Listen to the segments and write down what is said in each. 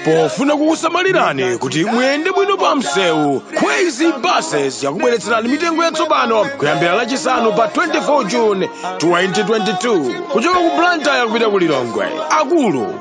pofuna kukusamalirani kuti muyende bwino pa msewu Khweze Buses yakubweretserani mitengo yatsopano kuyambira lachisanu pa 24 june 2022 kuchoka ku blantyre kupita ku lilongwe akulu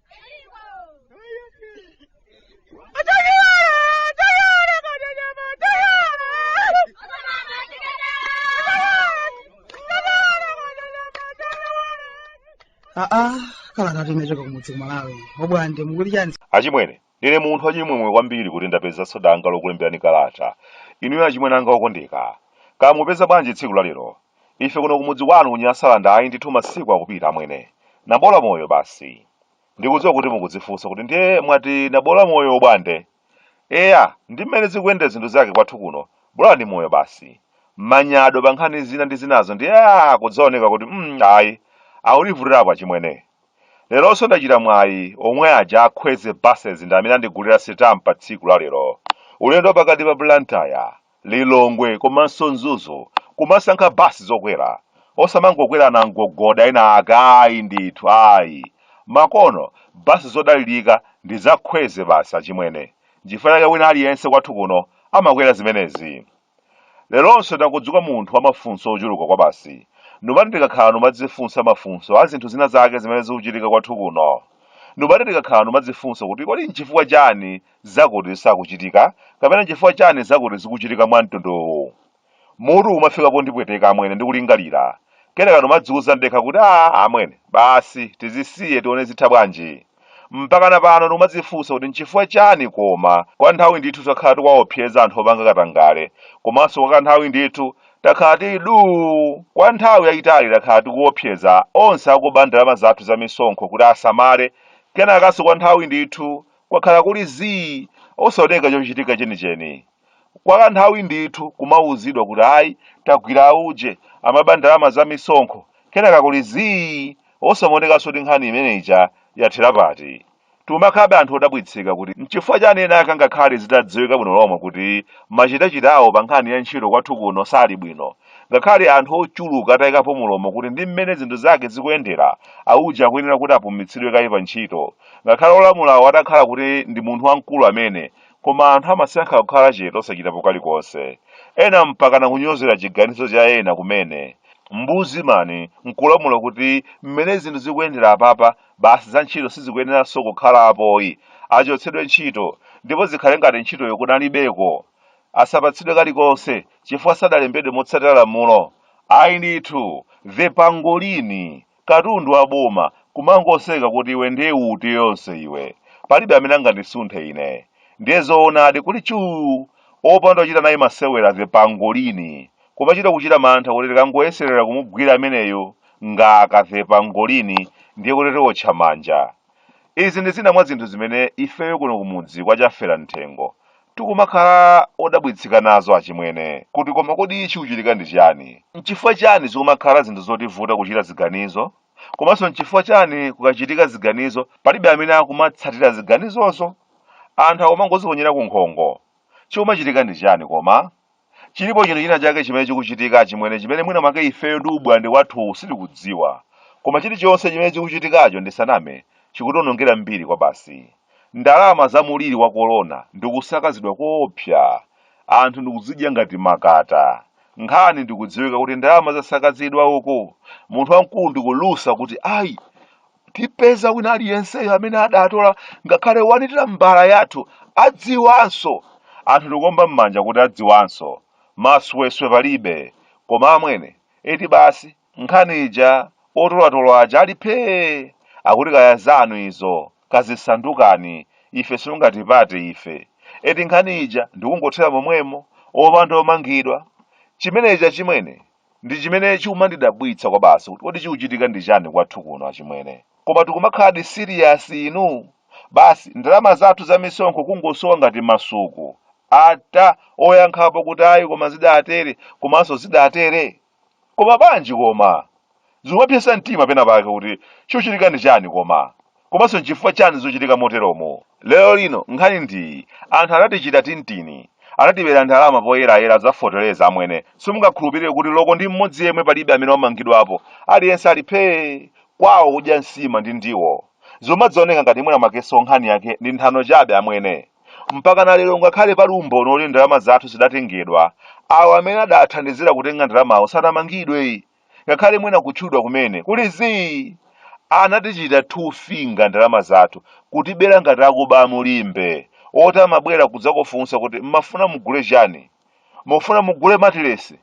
aa kala ngati unachoka kumudzi kumalawi obwande mukuti chani achimwene Ndine munthu wachimwemwe kwambiri kuti ndapezanso danga lokulemberani kalata. Inuyo achimwene anga okondeka. Kaya mukupeza bwanji tsiku la lero? Ife kuno kumudzi kwanu ku Nyasaland ayi ndithu masiku akupita amwene. Nabola moyo basi. Ndikudziwa kuti mukudzifunsa kuti ndiye mwati nabola moyo obwande? Eya, ndi mmene zikuyendera zinthu zake kwathu kuno, bola ndi moyo basi. Manyado pa nkhani zina ndi zinazo ndiye aa kudzaoneka kuti mm ayi, aulivutirapo achimwene. Leronso ndachita mwayi omwe aja a Khweze Buses ndi amene andigulira sitampa tsiku la lero. Ulendo wa pakati pa Blantyre, Lilongwe komanso Mzuzu kumasankha basi zokwera. Osamangokwera anamgogoda ena ake ayi ndithu ayi. Makono basi zodalirika ndi za Khweze basi achimwene. N'chifukwa chake wina aliyense kwathu kuno amakwera zimenezi. Leronso ndadzuka munthu wa mafunso ochuluka kwabasi. Numati ndikakhala numadzifunsa mafunso a zinthu zina zake zimene zikuchitika kwathu kuno. Numati ndikakhala numadzifunsa kuti kodi nchifukwa chani zakuti sizikuchitika kapena nchifukwa chani zakuti zikuchitika mwa mtundu uwu. Mutu umafika pondipweteka amwene ndi kulingalira. Kenaka numadziuza ndekha kuti aa amwene basi tizisiye tione zitha bwanji. Mpakana pano ndikumadzifunsa kuti n'chifukwa chani koma kwa kanthawi ndithu takhala tikuwaopseza anthu opanga katangale komanso kwa kanthawi ndithu takhala tili duu! Kwa nthawi yayitali takhala tikuopseza onse akuba ndalama zathu za misonkho kuti asamale kenakanso kwa nthawi ndithu kwakhala kuli zii! osaoneka chochitika chenicheni. kwa kanthawi ndithu kumauzidwa kuti ayi tagwira auje amaba ndalama za misonkho kenaka kuli zii osamaonekanso kuti nkhani imene ija yathera pati. Tikumakhalabe anthu odabwitsika kuti n'chifukwa chani ena ake angakhale zitadziwika bwino lomwe kuti machitachita awo pa nkhani ya ntchito kwathu kuno sali bwino. Ngakhale anthu ochuluka atayikapo mulomo kuti ndi mmene zinthu zake zikuyendera, auje akuyenera kuti apumitsidwe kaye pa ntchito. Ngakhale olamulawo atakhala kuti ndi munthu wamkulu amene, Koma anthu amasankha kukhala chete osachitapo kalikonse. Ena mpakana kunyozera chiganizo cha ena kumene. Ombudsman nkulamula kuti mmene zinthu zikuyendera apapa basi za ntchito sizikuyeneranso kukhala apoyi. Achotsedwe ntchito ndipo zikhale ngati ntchitoyo kunalibeko. Asapatsidwe kalikonse chifukwa sadalembedwe motsatira lamulo. Ayi ndithu! The Pangolini! katundu wa boma kumangoseka kuti iwe ndiye uti yonse iwe palibe amene angandisunthe ine ndiye zoonadi kuli chuu opanda kuchita naye masewera the pangolini kumachita kuchita mantha kuti tikangoyeserera kumugwira ameneyo ngati the pangolini ndiye kuti tiotcha manja Izi ndi zina mwa zinthu zimene ifeyo kuno kumudzi kwa Chafera Mthengo tikumakhala odabwitsika nazo achimwene, kuti koma kodi chikuchitika ndi chiyani? N'chifukwa chiyani zikumakhala zinthu zotivuta kuchita ziganizo? Komanso n'chifukwa chiyani kukachitika ziganizo palibe amene akumatsatira ziganizozo? Anthu akumangoziponyera kunkhongo. Chikumachitika ndi chiyani koma? Chilipo chinthu china chake chimene chikuchitika, achimwene, chimene mwina mwake ifeyo ndi ubwande wathuwu sitikudziwa. Koma chilichonse chimene chikuchitikacho, ndisaname, chikutiwonongera mbiri kwabasi. Ndalama za mliri wa kolona ndi kusakazidwa koopsa. Anthu ndi kudzidya ngati makata. Nkhani ndi kudziwika kuti ndalama zasakazidwa uku. Munthu wamkulu ndi kulusa kuti, Ayi! tipeza wina aliyenseyo amene adatola ngakhale wani tambala yathu adziwanso anthu ndikuomba m'manja kuti adziwanso masewera palibe koma amwene eti basi nkhani ija otolatolo aja ali phee akuti kaya zanu izo kazisaukani ife simungatipate ife eti nkhani ija ndikungothera momwemo opanda omangidwa chimenecho achimwene Ndi chimene chikumandidabwitsa kwabasi kuti kodi chikuchitika ndi chani kwathu kuno achimwene? Koma tikumakhaladi serious inu? Basi ndalama zathu za misonkho kungosowa ngati masuku ata oyankhapo kuti ayi koma zidatere komanso zidatere? Koma bwanji koma? Zikumapsetsa mtima pena pake kuti chikuchitika ndi chani koma? Komanso nchifukwa chani zuchitika moteromo? Lero lino nkhani ndiyi, anthu anatichita tintini, anatibera ndalama poyerayera za feteleza amwene simungakhulupirire kuti loko ndi mmodzi yemwe palibe amene wamangidwapo, aliyense ali phee! kwawo kudya nsima ndi ndiwo. Zomadzioneka ngati mwina mwakenso nkhani yake ndi nthano chabe amwene. Mpakana lero ngakhale pali umboni woti ndalama zathu zidatengedwa, awo amene adathandizira kutenga ndalamawo sanamangidwe. ngakhale mwina kutchulidwa kumene kuli zii anatichita two finger ndalama zathu kutibera ngati akuba a mu Limbe oti amabwera kudzakufunsa kuti mmafuna mugule chani mufuna mugule matilesi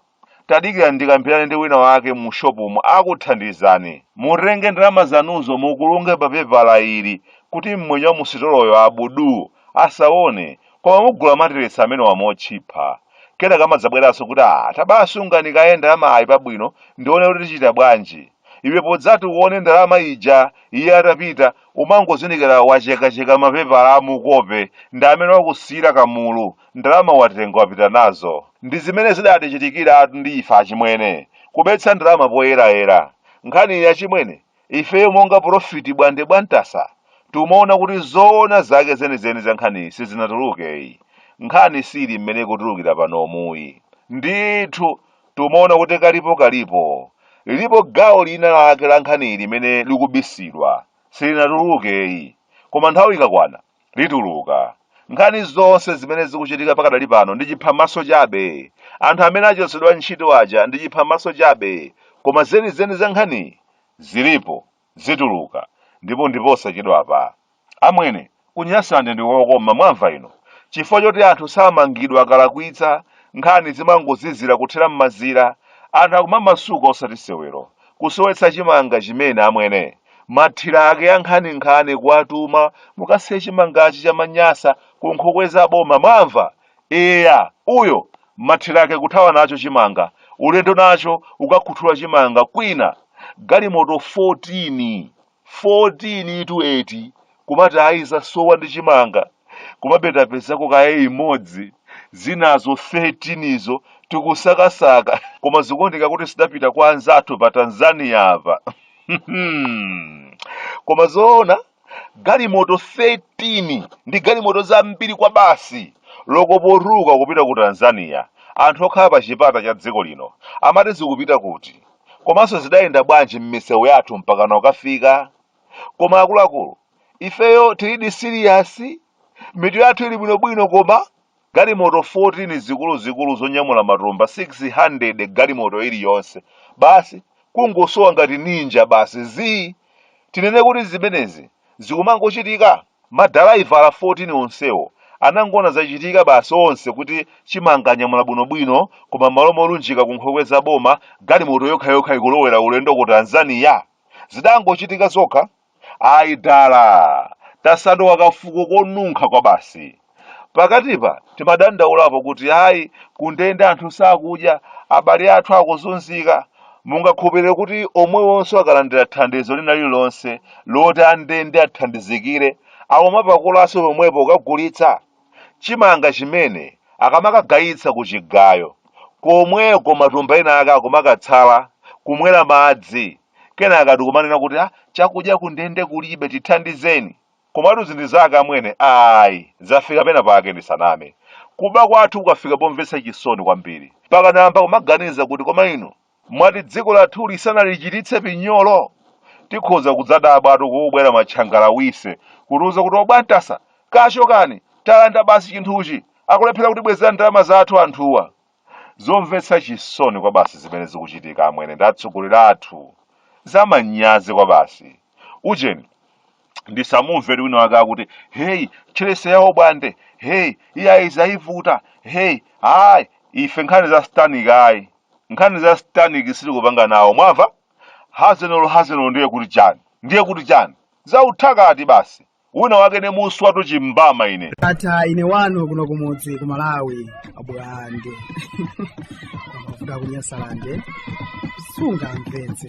tadikira ndikambirane ndi wina wake mu shopumu akuthandizani mutenge ndalama zanuzo muzikulunge pa pepala ili kuti mmwenye wa musitoloyo abudu Asaone, koma mugula matilesi amenewa motchipha. Kenaka amadzabweranso kuti ah tabaa sungani kaye ndalamayi pabwino ndione kuti tichita bwanji. Ndiye podzati uone ndalama ija iye atapita umangozindikira wachekacheka mapepala a mukope ndi amene wakusiyira kamulu, ndalama watenga wapita nazo. Ndi zimene zidatichitikiratu ndi ife achimwene. Kubetsa ndalama poyerayera. Nkhani iyi achimwene, Ifeyo monga porofiti Bwande Bwantasa tumaona kuti zoona zake zenizeni za nkhaniyi sizinatuluke ayi. Nkhani siili mmene ikutulukira panomu ayi. Ndithu tumaona kuti kalipokalipo lilipo gawo lina lake la nkhaniyi limene likubisidwa, silinatuluke ayi. Koma nthawi ikakwana lituluka. Nkhani zonse zimene zikuchitika pakadali pano ndi chiphamaso chabe. Anthu amene achotsedwa ntchito aja ndi chiphamaso chabe. Koma zenizeni za nkhaniyi zilipo, zituluka, ndipo ndiposachedwapa. Amwene, ku Nyasaland ndi kokoma, mwamva inu? Chifukwa choti anthu samangidwa akalakwitsa, nkhani zimangozizira kuthera m'mazira, anthu akumamasuka osati sewero. Kusowetsa chimanga chimene amwene. Mathiraki ankhaninkhani kuwatuma mukasiye chimangachi cha Anyasa ku nkhokwe za boma mwamva? Eya! Uyo! Mathiraki kuthawa nacho chimanga. Ulendo nacho kukakhuthula chimanga kwina. Galimoto 14! 14 itu eti kumati ayi zasowa ndi chimanga komabe tapezako kaye imodzi zinazo 13 izo tikusakasaka koma zikuoneka kuti zidapita kwa anzathu pa tanzania apa koma zoona galimoto 13 ndi galimoto zambiri kwabasi loko potulukira kupita ku tanzania anthu okhala pa chipata cha dziko lino amati zikupita kuti Komanso zidayenda bwanji mmisewu yathu mpakana kukafika? Koma akuluakulu, ifeyo tilidi serious? Mitu yathu ili bwinobwino koma? Galimoto 14 zikuluzikulu zonyamula matumba 600 galimoto iliyonse. Basi, kungosowa ngati ninja basi zii! Tinene kuti zimenezi zikumangochitika? Madalaivala 14 onsewo anangoona zachitika basi onse kuti chimanga anyamula bwino bwino koma mmalo molunjika ku nkhokwe za boma galimoto yokha yokha ikulowera ulendo ku Tanzania? Zidangochitika zokha? Ayi dala! Tasanduka ka fuko konunkha kwabasi. Pakatipa timadandaulapo kuti ayi, kundende anthu sakudya, abale athu akuzunzika. Mungakhulupirire kuti omwewonso akalandira thandizo lina lililonse loti andende athandizikire, akumatapakonso pomwepo kukagulitsa? Chimanga chimene akamakagayitsa kuchigayo, komweko matumba ena ake akumakatsala, kumwera madzi, kenaka ndi kumanena kuti, Chakudya kundende kulibe, tithandizeni! Komatu izi ndi zakale amwene ayi zafika pena pake ndisaname. Kuba kwathu kwafika pomvetsa chisoni kwambiri. Mpaka ndayamba kumaganiza kuti koma inu mwati dziko lathuli sanalichititse pinyolo? Tikhoza kudzadabwatu kukubwera matchangalawise kutiuza kuti obwantasa kaya chokani talanda basi chinthuchi akulephera kutibwezera ndalama zathu anthuwa. zomvetsa chisoni kwabasi zimene zikuchitika amwene ndi atsogoleri athu zamanyazi kwabasi ujeni ndisamumvere wina wake akuti heyi tcherese yawo bwande heyi iyayi zayivuta heyi ayi ife nkhani za satanic ayi nkhani za satanic sitikupanga nawo mwamva hazenolo hazenolo ndiye kuti chani ndiye kuti chani zauthakati basi wina wake ne muswatu chimbama ine ata ine wanu kuno kumudzi ku malawi abwande kuda kunyasalande sunga mpenzi